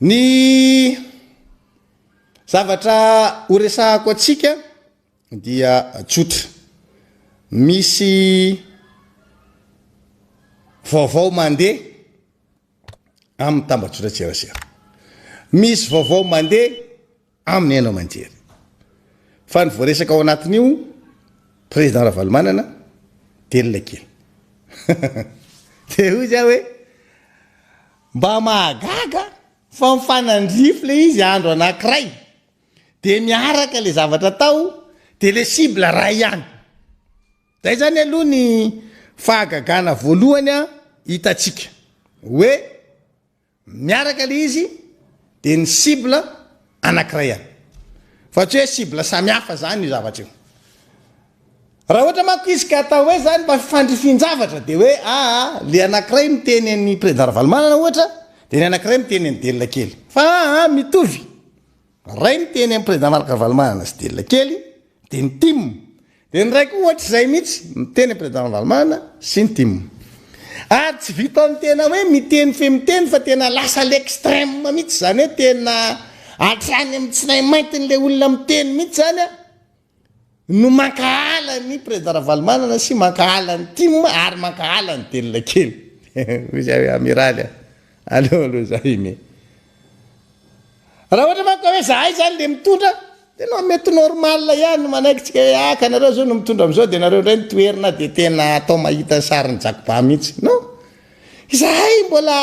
Ny zavatra horesahako antsika dia tsotra. Misy vaovao mandeha amin'ny tambajotran-tserasera. Misy vaovao mandeha. aminy haino aman-jery. Fa ny voaresaka ao anatin'io, Président Ravalomanana, delina kely. Dia hoy za hoe, mba mahagaga fa mifanandrify le izy andro anankiray, dia miaraka le zavatra atao, dia le cible ray ihany. Zay zany aloha ny fahagagana voalohany hitantsika. Hoe, Miaraka le izy de ny cible anakiray ihany fa tsy hoe cible samy hafa zany io zavatra io. Raha ohatra manko izy ka atao hoe zany mba fandrifin-javatra de hoe aa le anakiray miteny an'i Président Ravalomanana ohatra de ny anakiray miteny an'i Delona kely fa aa mitovy Ray ny teny an'i Président Marc Ravalomanana sy Delila kely dia ny tim, dia ny ray koa ohatr'izay mihitsy miteny an'i Président Ravalomanana sy ny tim. Ary tsy vitan'ny tena hoe miteny fe miteny fa tena lasa à l'extrême mihitsy izany hoe tena hatrany amin'ny tsinainmaintin'ilay olona miteny mihitsy izany an! no mankahala ny Président Ravalomanana sy mankahala ny Tim ary mankahala ny Delina kely. Hoy za hoe Amiraly a! Aleo aloha za ine. Raha ohatra manko ka hoe zahay zany le mitondra dia non mety normal ihany ny manaikitsika hoe ah ka nareo zao no mitondra amizao dia nareo ndray no toherina dia tena atao mahita ny sarin'ny jakoba mihitsy. Non! Izahay mbola.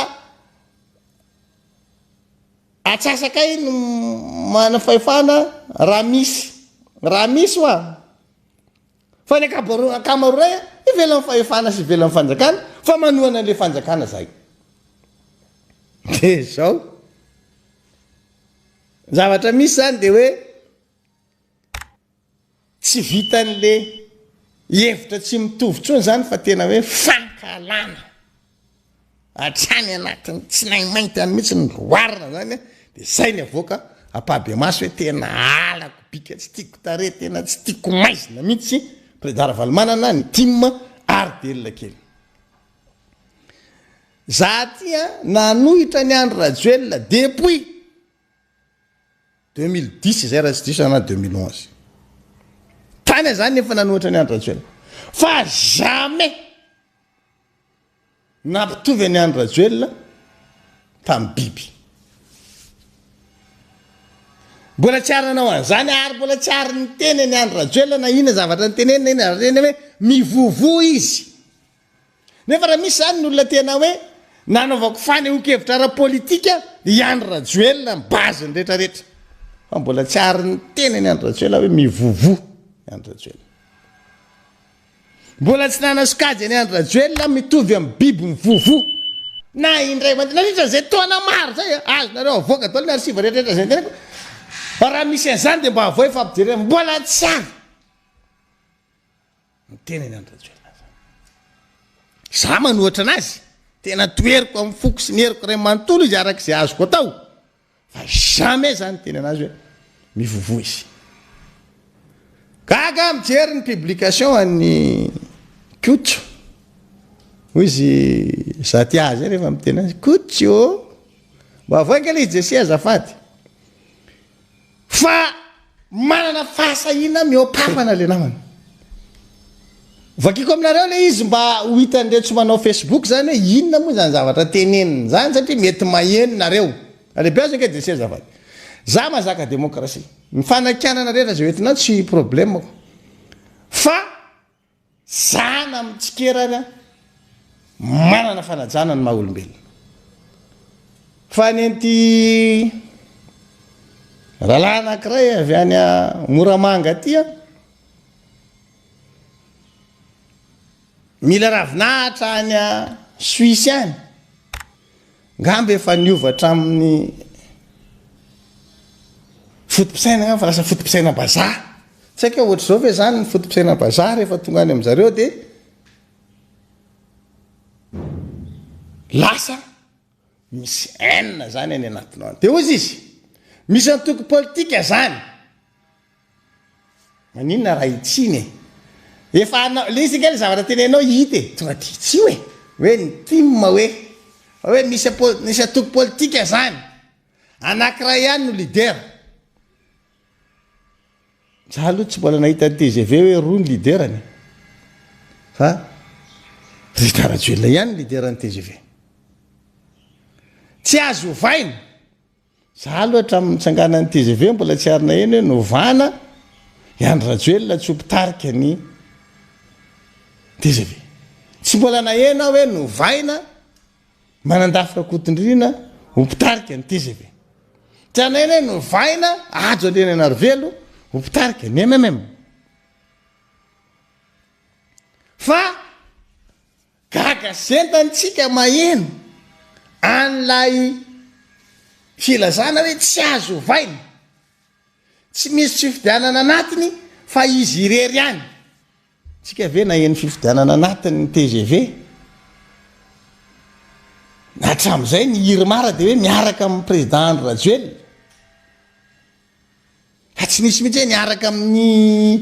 Atsasakay no manana fahefana raha misy, raha misy hoa, fa ny ankamaroray ivelan'ny fahefana sy ivelan'ny fanjakana fa manohana an'ilay fanjakana zahay. Dia izao. Ny zavatra misy izany dia hoe. Tsy vitan'le hevitra tsy mitovy intsony izany fa tena hoe fankahalana hatrany anatin'ny tsinaimainty any mihitsy ny roarina izany a, dia izay ny avoaka ampahibemaso hoe tena halako bika, tsy tiako tarehy, tena tsy tiako maizina mihitsy Président Ravalomanana, ny tim ary delina kely. Za aty a, nanohitra an'i Andry Rajoelina depuis. Deux mille dix zay raha tsy diso za na deux mille onze. Tany aho zany efa nanohatra an'i Andry Rajoelina. Fa jamais nampitovy an'i Andry Rajoelina tamin'ny biby. Mbola tsy ary nanao an'izany ary mbola tsy ary niteny an'i Andry Rajoelina na inona zavatra nitenenina na inona zavatra nitenenina hoe mivovo izy. Nefa raha misy izany ny olona te hanao hoe nanaovako fanehoan-kevitra ara-politika i Andry Rajoelina ny base ny rehetra rehetra. Fa mbola tsy ary niteny an'i Andry Rajoelina hoe mivovo i Andry Rajoelina. Mbola tsy nanao sokajy an'i Andry Rajoelina mitovy amin'ny biby mivovo na indray mandeha nandritra izay taona maro izay. Azonareo avoaka daholo ny archive rehetra rehetra izay niteniko fa raha misy an'izany dia mba avoay fa ampijerena. Mbola tsy ary. Ny tenany an-dRajoelina zany. Izaho manohatra anazy, tena toheriko amin'ny foko sy ny heriko iray manontolo izy araka izay azoko atao, fa jamais izaho niteny anazy hoe mivovo izy. Gaga aho mijery ny publication an'i Koto, hoy izy izaho tia azy rehefa miteny azy, Koto ô! Mba avoay ange ilay izy Jesse azafady. Fa manana fahasahiana mihoa-pafana le namana. Vakiko aminareo le izy mba ho hitan'ireo tsy manao Facebook zany hoe inona moa zany zavatra teneniny zany satria mety maheno nareo. Alebiazo ange DC azafady. Za mazaka demokrasia. Ny fanakianana rehetra ze hoentinao tsy problemako. Fa. Zana mitsikera ary an! Manana fanajana ny maha olombelona. Fa ny an'ity rahalahy anankiray avy any Moramanga aty an! Mila ravinahitra any Suisse any. Ngamba efa niova hatramin'ny foto-pisaina ngamba fa lasa foto-pisaina bazaha. Tsy haiko hoe ohatr'izao ve izany ny foto-pisaina bazaha rehefa tonga any amin-jareo dia lasa misy haine izany any anatinao any. Dia hoy izy, misy antoko politika izany. Maninona raha hitsiny e? Efa anao, le izy ange le zavatra tenenao hita e! Tonga de hitsio e! Hoe ny tim hoe, hoe misy apo, misy antoko politika zany, anakiray ihany no leader. Za aloha tsy mbola nahita ny tgv hoe roa ny leader-ny e! Fa Rita Rajoelina ihany ny leader-ny tgv. Tsy azo ovaina! Za aloha hatramin'ny nitsanganan'ny tgv mbola tsy ary naheno hoe novana i Andry Rajoelina tsy ho mpitarika ny tgv. Tsy mbola naheno aho hoe novaina Manandafy Rakotondriana ho mpitarika ny tgv. Tsy ary naheno hoe novaina Hajo Andriananarivelo ho mpitarika ny MMM. Fa. Gaga zenta ny tsika maheno an'ilay filazana hoe tsy azo ovaina, tsy misy tsy fifidianana anatiny fa izy irery ihany. Tsika ve naheno fifidianana anatiny ny tgv? Hatramizay ny irmar dia hoe miaraka amin'ny président Andry Rajoelina. Fa tsy misy mihitsy hoe miaraka amin'ny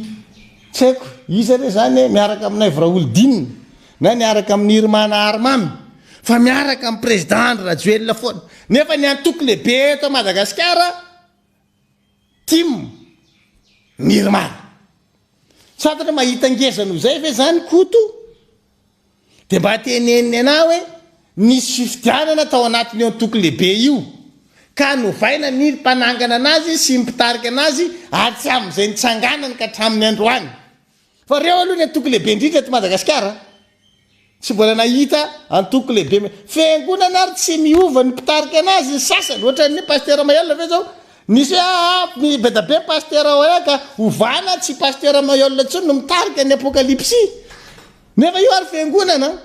tsy haiko iza re zany e, miaraka amin'i Naivo Raholdina na miaraka amin'i Irma na Armamy fa miaraka amin'ny Président Andry Rajoelina foana. Nefa ny antoko lehibe eto Madagasikara tim ny Irmana. Tsy fantatra mahita ngeza noho izay ve zany Koto Dia mba teneniny anah hoe nisy fifidianana tao anatin'io antoko lehibe io, ka novaina ny mpanangana anazy sy ny mpitarika anazy ary tsy amin'izay nitsanganany ka hatramin'ny androany. Fa ireo aloha ny antoko lehibe indrindra eto Madagasikara a! Tsy mbola nahita antoko lehibe. Fiangonana ary tsy miova ny mpitarika anazy ny sasany, ohatran'ny Pasitera Mahelola ve izao Misy app mibedabe Pasitera Oya ka ovana tsy Pasitera Mayol intsony no mitarika ny Apokalipsy. Nefa io ary fiangonana an!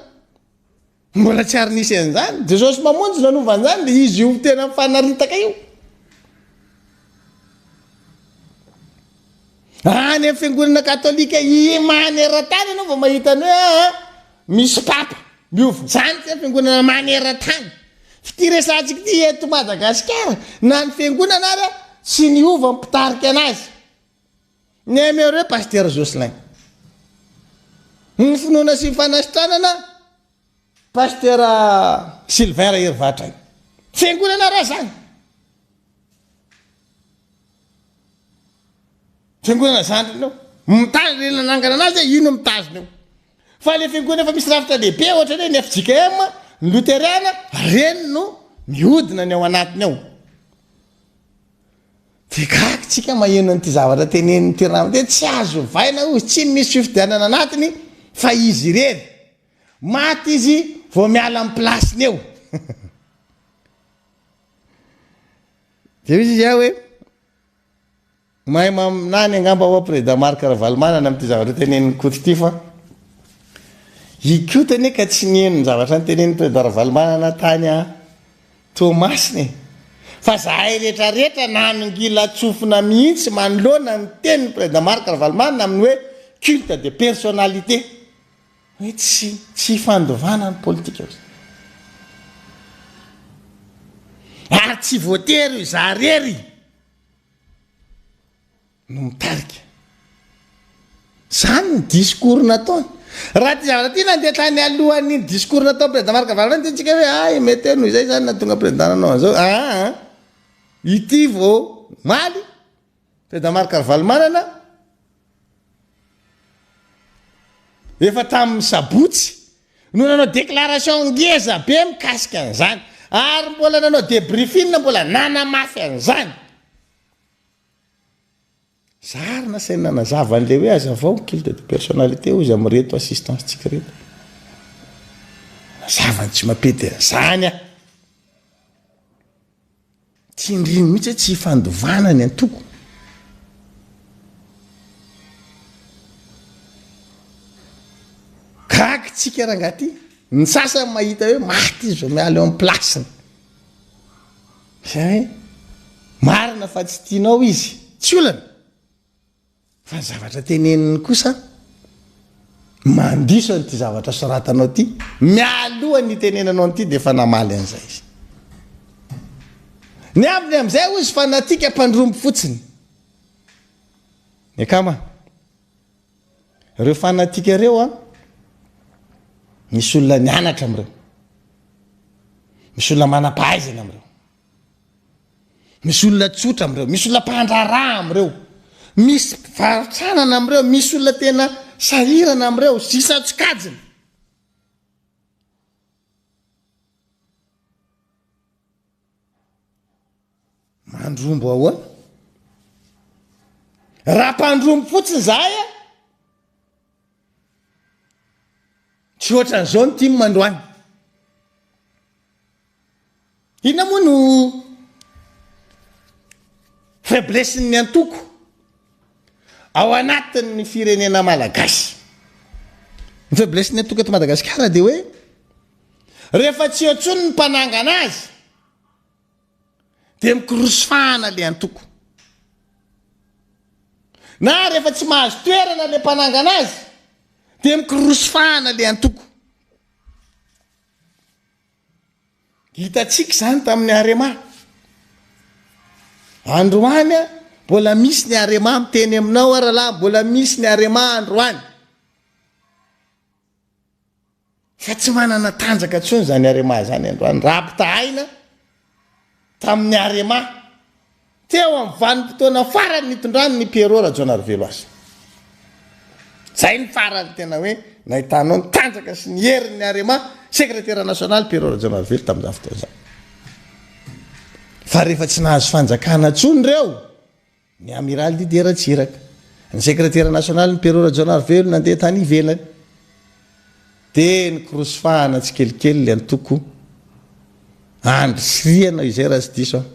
Mbola tsy ary nisy an'izany. Jesosy Mamonjy nanova an'izany dia izy io tena mifanaritaka io. Any amin'ny fiangonana katolika imany eran-tany ianao vao mahita ny hoe aa misy papa. Miova izany tsy ny fiangonana maneran-tany. F'ity resahantsika ity eto Madagasikara na ny fiangonana ary tsy niova ny mpitarika anazy. Ny aime re Pasitera Jocelyn. Ny finoana sy ny fanasitranana. Pasteur Sylvain Raherivatray. Fiangonana ra zany. Fiangonana zandriny eo. Mitandrina le nanangana anazy e, io no mitazona eo. Fa le fiangonana efa misy rafitra lehibe ohatra hoe ny FJKM, ny Loterana, reny no mihodina ny ao anatiny ao. De gaga tsika maheno an'ity zavatra tenenin'ity ranamana ity hoe tsy azo ovaina hozy, tsy misy fifidianana anatiny fa izy irery. Maty izy vao miala am place-ny eo. Dia misy izy hoe mahay maminany angamba ho'a Président Marc Ravalomanana amin'ity zavatra tenenin'i Koto ity fa i Koto anie ka tsy niheno ny zavatra notenenin'i Président Ravalomanana tany a Toamasina e. Fa zahay rehetra rehetra nanongilan-tsofina mihitsy manoloana ny tenin'i Président Marc Ravalomanana amin'ny hoe culte de personnalité. Hoe tsy tsy ifandovana ny politika hoy izy. Ary tsy voatery hoe za rery no mitarika. Zany ny discours nataony. Raha ty zavatra ty nandeha tany alohan'iny discours nataon'i Président Marc Avaratra iny tiantsika hoe hay mety hoe noho izay zany nahatonga Président nanao an'izao. Aa ity vao omaly Tedamar Carvalho-Manana, efa tamin'ny sabotsy no nanao déclaration ngeza be mikasika an'izany ary mbola nanao débriefing mbola nanamafy an'izany. Zary nasainy nanazava an'ilay hoe azavao ny culte de personnalité hozy amin'ireto assistance tsika ireto. Nazava an'i Tsimapedy an'izany an. Tsindrino mihitsy hoe tsy ifandovana ny antoko. Gaga tsika rangaha ty, ny sasany mahita hoe maty izy vao miala eo amin'ny place-ny. Zay hoe marina fa tsy tianao izy, tsy olana. Fa ny zavatra teneniny kosa mandiso an'ity zavatra soratanao ity, mialoha ny hitenenanao an'ity dia efa namaly an'izay izy. Ny ambiny amin'izay hoy izy fanatika mpandrombo fotsiny. Ny akama, ireo fanatika ireo an, misy olona nianatra amin'ireo, misy olona manam-pahaizana amin'ireo. Misy olona tsotra amin'ireo, misy olona mpandraharaha amin'ireo, misy mpivaro-tranana amin'ireo, misy olona tena sahirana amin'ireo, sy isan-tsokajiny. Mandrombo ahoana? Raha mpandrombo fotsiny izahay, Tsy ohatran'izao ny tim androany. Inona moa no faiblessin'ny antoko ao anatin'ny firenena malagasy? Ny faiblessin'ny antoko eto Madagasikara dia hoe rehefa tsy eo intsony ny mpanangana azy de mikorosy fahana le antoko. Na rehefa tsy mahazo toerana le mpanangana azy de mikorosy fahana le antoko. Hitantsika izany tamin'ny Arema. Androany a, mbola misy ny Arema miteny aminao a rahalahy, mbola misy ny Arema androany. Fa tsy manana tanjaka intsony izany Arema izany androany raha ampitahaina tamin'ny Arema teo amin'ny vanim-potoana farany nitondrany ny Pierrot Rajaonarivelo azy. Izay no farany tena hoe nahitanao ny tanjaka sy ny herin'ny Arema sekretera nasionaly Pierrot Rajaonarivelo tamin'izany fotoana izany. Fa rehefa tsy nahazo fanjakana intsony ireo Ny Amiraly Didier Ratsiraka, ny Sekretera Nasionalin'ny Pero Rajaonarivelo nandeha tany ivelany dia nikorosy fahana tsikelikely ilay antoko Andry sy Ry ianao izay raha tsy diso aho.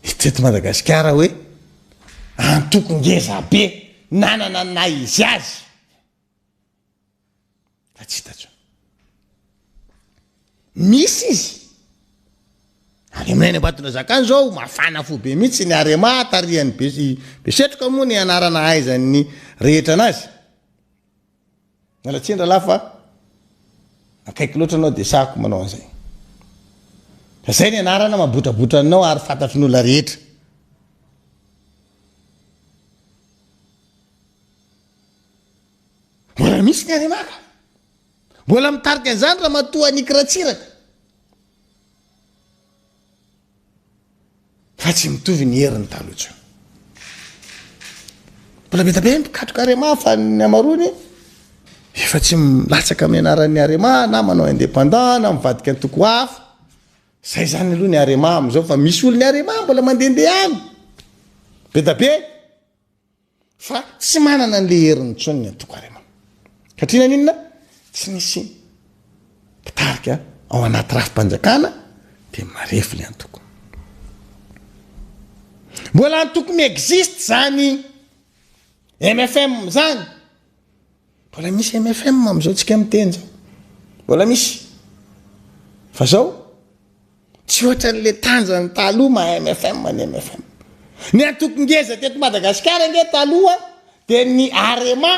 Hita eto Madagasikara hoe antoko ngezabe nanana ny naha izy azy. Fa tsy hitantsony. Misy izy. Any aminay any Ambatondrazaka any zao mafana fo be mihitsy ny Arema tarihan'ny Besetroka moa ny anarana ahaizan'ny rehetra anazy. Miala tsiny rahalahy fa akaiky loatra anao dia sahako manao an'izay. Fa zay ny anarana mabotrabotra anao ary fantatry ny olona rehetra. Mbola misy ny Arena ka. Mbola mitarika an'izany Ramatoa Annick Ratsiraka. Fa tsy mitovy ny heriny taloha intsony. Mbola be dia be ny mpikatroka Arema fa ny amarony efa tsy milatsaka amin'ny anaran'ny Arema na manao indépendant na mivadika antoko hafa. Zay izany aloha ny Arema amin'izao fa misy olon'ny Arema mbola mandehandeha any. Be dia be. Fa tsy manana an'ilay heriny intsony ny antoko Arema. Satria na inona tsy misy mpitarika ao anaty rafi-panjakana dia marefo ilay antoko. Mbola antoko mi-existe izany MFM izany. Mbola misy mfm amzao tsika miteny zao mbola misy fa zao tsy ohatranle tanjany taloha maha mfm ny mfm ny antoko ngeza teto Madagasikara nge taloha de ny arema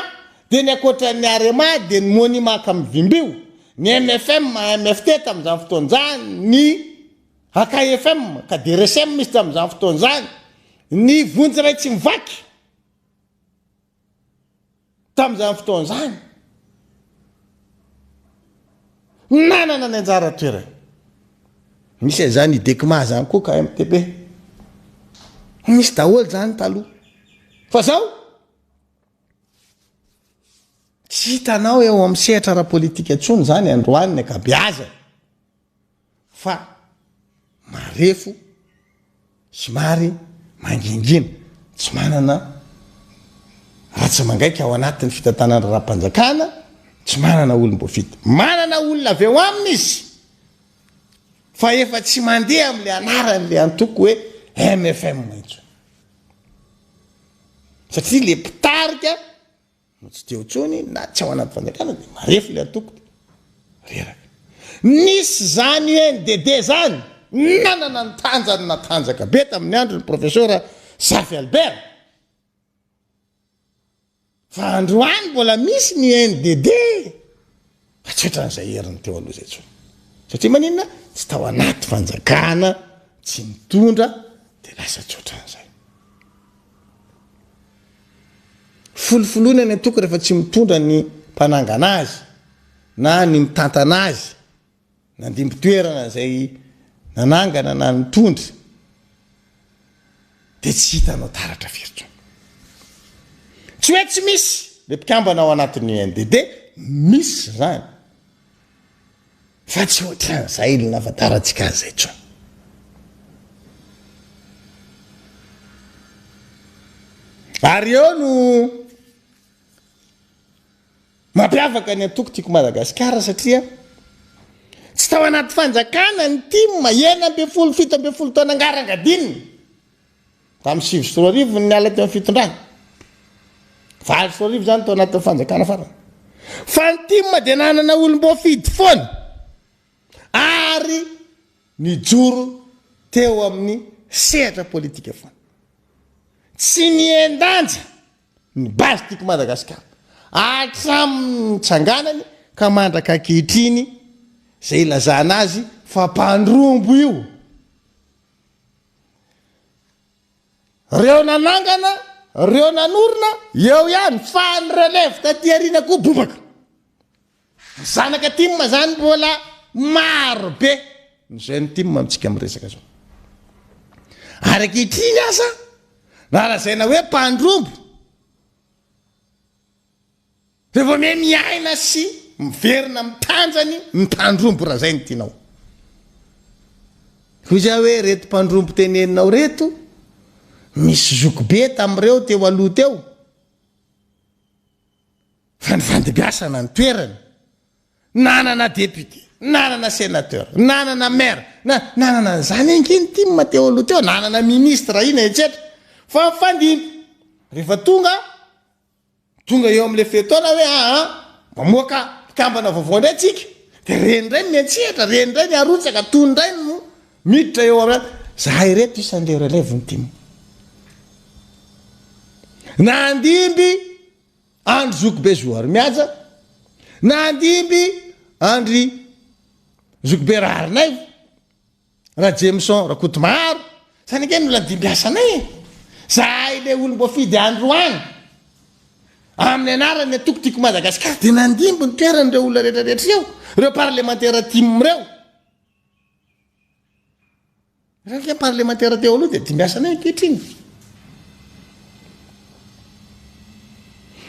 de ny akoatran'ny arema de ny monima kamy vimbio ny mfm maha mft tamzany fotoana zany ny akfm ka de resem izy tamzany fotoana zany ny vonjy ray tsy mivaky Tamin'izany fotoana izany, nanana ny anjara toerany. Anisan'izany i Dekma izany koa ka MTB. Nisy daholo izany taloha. Fa izao, tsy hitanao eo amin'ny sehatra ara-politika intsony izany androany ny ankabeazany. fa marefo somary mangingina, tsy manana ratsa-mangaika ao anatin'ny fitantanana raharaham-panjakana, tsy manana olom-boafidy. Manana olona avy ao aminy izy fa efa tsy mandeha amin'ilay anaran'ilay antoko hoe MFM intsony. Satria ilay mpitarika. no tsy teo intsony na tsy ao anaty fanjakana dia marefo ilay antoko dia reraka. Nisy izany UNDD izany, nanana ny tanjany natanjaka be tamin'ny andron'ny Profesora Zafy Albert. Fa androany mbola misy ny UNDD Tsotra ny zay heriny teo aloha zay tsony satria maninona tsy tao anaty fanjakana tsy nitondra de lasa tsotra ny zay folofoloina ny antoko rehefa tsy mitondra ny mpanangana azy na ny mitantana azy Nandimby toerana izay nanangana na nitondra dia tsy hitanao taratra firy intsony. Tsy hoe tsy misy le mpikambana ao anatin'ny UNDD, misy izany, fa tsy ohatran'izay le nahafantarantsika azy izay intsony. Ary eo no. Mampiavaka ny antoko Tiako Madagasikara satria tsy tao anaty fanjakana ny tim, enina ambin'ny folo, fito ambin'ny folo taona ngarangadininy, tamin'ny sivy sy roa arivo no niala teo amin'ny fitondrana, valo sy roa arivo izany tao anatin'ny fanjakana farany, fa ny tim dia nanana olom-boafidy foana ary nijoro teo amin'ny sehatra politika foana, tsy nihen-danja. Ny base Tiako Madagascar hatramin'ny nitsanganany ka mandraka ankehitriny izay ilazana azy fa mpandrombo io. Reo nanangana, reo nanorina, eo ihany fa ny relève taty aoriana koa bobaka. Zanaka tim zany mbola maro be ny jeune tim amintsika am resaka zao. Ary ankehitriny aza raha lazaina hoe mpandrombo dia vao miha miaina sy miverina am tanjany ny mpandrombo raha zay no tianao. Hoy zah hoe reto mpandrombo teneninao reto misy zokibe tam reo teo aloha teo. Fa ny vandibiasana ny toerany. Nanana député, nanana sénateur, nanana maire, na, nanana an'izany ange ny tim teo aloha teo, nanana ministre ina etsetra. Fa mifandimby. Rehefa tonga, tonga eo amin'ilay fe-taona hoe aa, mamoaka mpikambana vaovao indray tsika. Dia reny indray ny miantsehatra, reny indray ny arotsaka, tony indray ny. Miditra eo ara zahay ireto isan'ireo relève ny tim. Nandimby andry zokibe zoharimihaja, nandimby andry zokibe raharinaivo, rajemison rakotomaharo, zany ange no nandimby asanay e! zahay le olomboafidy androany amin'ny anaran'ny antoko tiako madagasikara dia nandimby ny toeran'ireo olona rehetra rehetra ireo, ireo parlemantera tim ireo. Raha ilay parlemantera teo aloha dia dimbiasanay ankehitriny.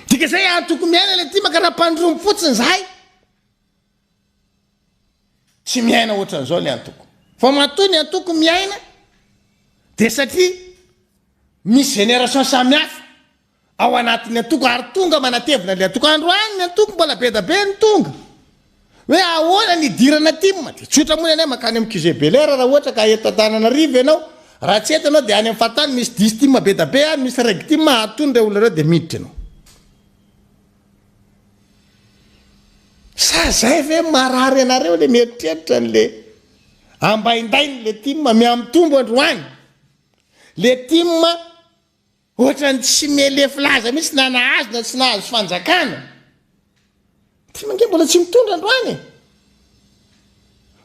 Dika izay ary tokony miaina ilay timaka raha mpandromy fotsiny izahay. Tsy miaina ohatran'izao ny antoko. Fa matoa ny antoko miaina dia satria misy génération samihafa. ao anatin'ny antoko ary tonga manatevina ilay antoko, androany ny antoko mbola bedabe ny tonga hoe ahoana ny hidirana tim, dia tsotra moa ny anay mankany amin'ny QG Bel'Air raha ohatra ka eto Antananarivo ianao, raha tsy eto ianao dia any amin'ny fahatany misy dix tim bedabe any, misy reg tim ary tony ireo olona ireo dia miditra ianao. Sa izay ve marary anareo ilay mieritreritra an'ilay ambaindain'ilay tim, mihamitombo androany ilay tim, Ohatrany tsy me lefy laza mihitsy na nahazo na tsy nahazo fanjakana. Tim ange mbola tsy mitondra androany e.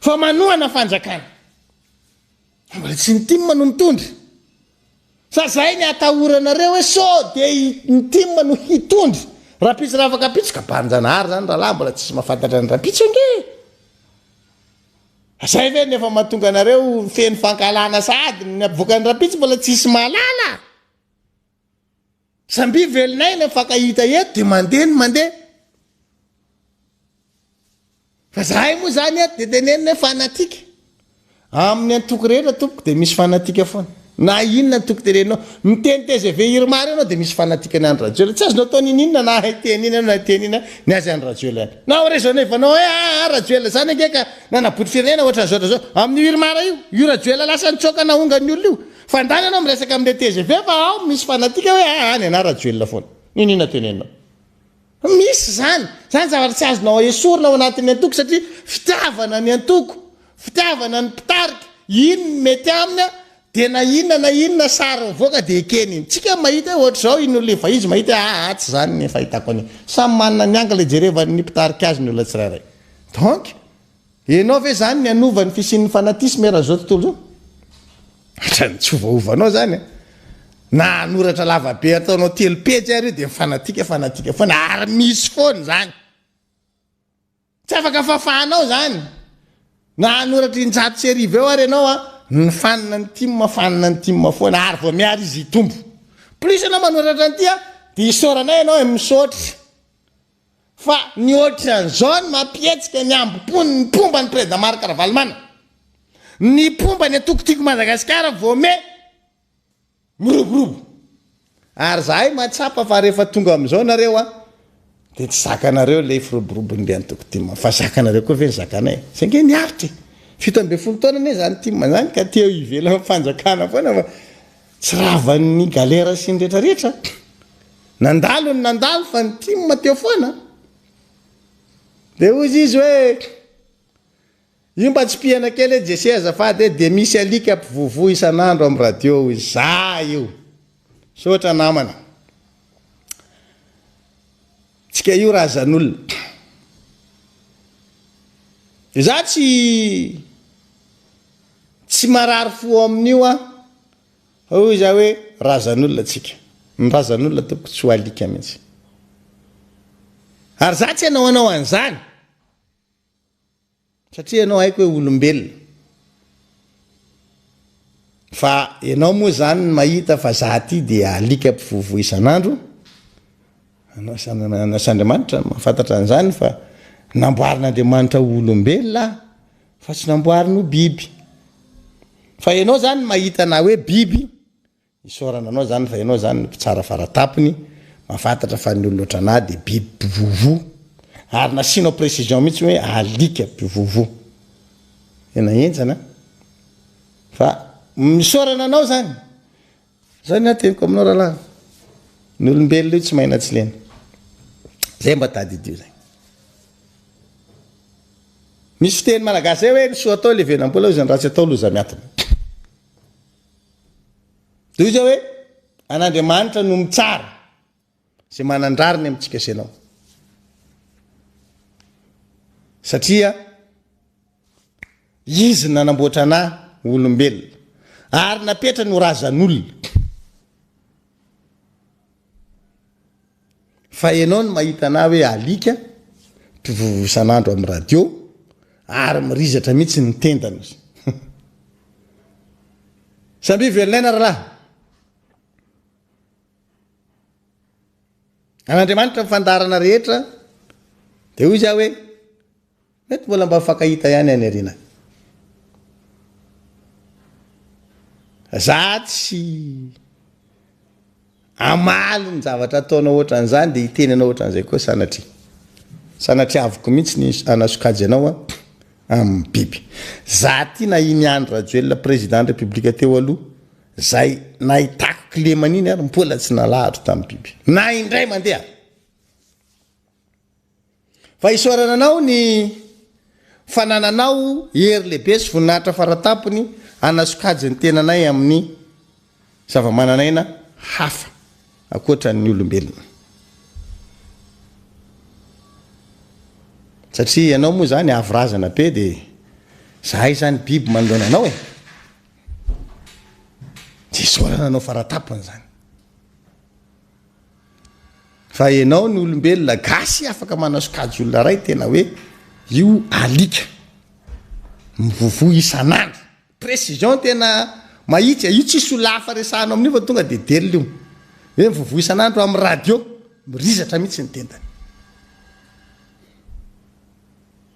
Fa manohana fanjakana. Mbola tsy ny tim no mitondra. Sa zay ny atahoranareo hoe so de ny tim no hitondra. Rampitso raha afaka pitsy ka banjanahary zany rahalahy mbola tsisy mafantatra ny rampitso ange e. Zay ve no efa mahatonga anareo feno fankahalana sahady ny avoakany rapitso mbola tsisy mahalala a! Zambia velona aina mifankahita eto de mandeha ny mandeha. Fa zahay moa zany eto de tenenina hoe fanatique. Amin'ny antoko rehetra tompoko de misy fanatique foana. Na inona ny toko teneninao. Miteny tgv Irma reo ianao dia misy fanatikan'i Andry Rajoelina. Tsy azonao atao niniana na hay teny iny ianao na hiteny ina ny azy Andry Rajoelina any. Na ho raisonnevanao hoe aa Rajoelina zany ange ka nanaboty firenena ohatran'izao ohatran'izao. Amin'io Irma reo io, io Rajoelina lasa nitsoaka nahonga ny olona io. Fandany ianao miresaka amin'ilay tgv fa ao misy fanatika hoe aa any anà Rajoelina foana. Niniana teneninao. Misy izany. Izany zavatra tsy azonao esorina ao anatin'ny antoko satria fitiavana ny antoko, fitiavana ny mpitarika, iny ny mety aminy dia na inona na inona sary mivoaka dia ekeny iny. Tsika mahita hoe ohatr'izao iny olona efa izy mahita hoe aa tsy izany ny fahitako an'iny. Samy manana ny angle ijerevan'ny mpitarika azy ny olona tsirairay. Donc. Enao ve zany ny hanova ny fisian'ny fanatisme eran zao tontolo zao? Otrany tsy ovaovanao zany a! Na hanoratra lava be ataonao telo pejy ary io dia ny fanatika fanatika foana ary misy foana zany! Tsy afaka fafanao zany! Na hanoratra injato sy arivo eo ary enao a! Ny fanina ny tim a fanina ny tim foana ary vao miary izy hitombo! Plus enao manoratra an'ity a dia isaoranay enao e! Misaotra! Fa ny ohatran'izao no mampihetsika ny hambom-pony ny mpomba an'i Prezida Marc Ravalomana. Ny mpomba ny antoko Tiako Madagasikara voamehy miroborobo. Ary zahay mahatsapa fa rehefa tonga amin'izao nareo an, dia tsy zakanareo ilay firoborobon'ny be antoko tim an, fa zakanareo koa ve ny zakanay? Izay ange ny aritra e! Fito ambin'ny folo taona anie izany tim izany ka te ho ivelan'ny fanjakana foana fa tsy ravan'ny galera sy ny retraretra. Nandalo ny nandalo fa ny tim teo foana a! Dia hoy izy hoe, io mba tsipihana kely hoe Jesse azafady e, dia misy alika mpivovo isan'andro amin'ny radio hoy izy, za io! Misaotra namana. Tsika io razan'olona. Dia za tsy tsy marary fo amin'io aho. Hoy izaho hoe razan'olona tsika. Ny razan'olona tompoko tsy ho alika mihitsy. Ary izaho tsy hanao anao an'izany. Satria ianao haiko hoe olombelona. Fa ianao moa izany mahita fa izaho ity dia alika mpivovo isan'andro. Anao sy Andriamanitra no mahafantatra an'izany fa namboarin'Andriamanitra ho olombelona aho. Fa tsy namboariny ho biby. Fa ianao izany mahita anà hoe biby, isaorana anao izany fa ianao izany mpitsara faratapony, mahafantatra fa ny olona ohatranà dia biby mpivovo. Ary nasianao précision mihitsy hoe alika mpivovo. Tena henjana an! Fa misaorana anao izany. Zao ny ahy teniko aminao rahalahy, ny olombelona io tsy mahay na tsy lena, zay mba tadidio zay. Misy fiteny malagasy zay hoe ny soa atao levenam-bola hoy izay ny ratsy atao loza miatona. Tohizo hoe an'Andriamanitra no mitsara. Izay manan-drariny amintsika sy ianao. Satria Izy no nanamboatra anà ho olombelona ary napetrany ho razan'olona. Fa ianao no mahita anà hoe alika, mpivovo isan'andro amin'ny radio ary mirizatra mihitsy ny tendany. Samia velon'aina rahalahy. An'Andriamanitra ny fandaharana rehetra, dia hoy izy aho hoe, mety mbola mba mifankahita ihany any aoriana. Za tsy amaly ny zavatra ataonao ohatran'izany dia hiteny anao ohatran'izay koa sanatria. Sanatriaviko mihitsy ny hanasokajy anao amin'ny biby. Za ty na i Miandry Rajoelina président ny république teo aloha, Zay nahitako kilemana iny ary mpola tsy nalahatra tamin'ny biby. Na indray mandeha. Fa isaorana anao ny fanananao hery lehibe sy voninahitra faratampony hanasokajy ny tenanay amin'ny zava-mananaina hafa ankoatra ny olombelona. Satria ianao moa zany avo razana be dia zahay zany biby manoloana anao e. Diso olana anao faratapony zany. Fa enao ny olombelona gasy afaka manao sokajy olona ray tena hoe io alika. Mivovo isan'andro. Précision tena mahitsy, io tsisy olona hafa resahanao amin'io fa tonga dia delona io. Hoe mivovo isan'andro amin'ny radio, mirizatra mihitsy ny tendany.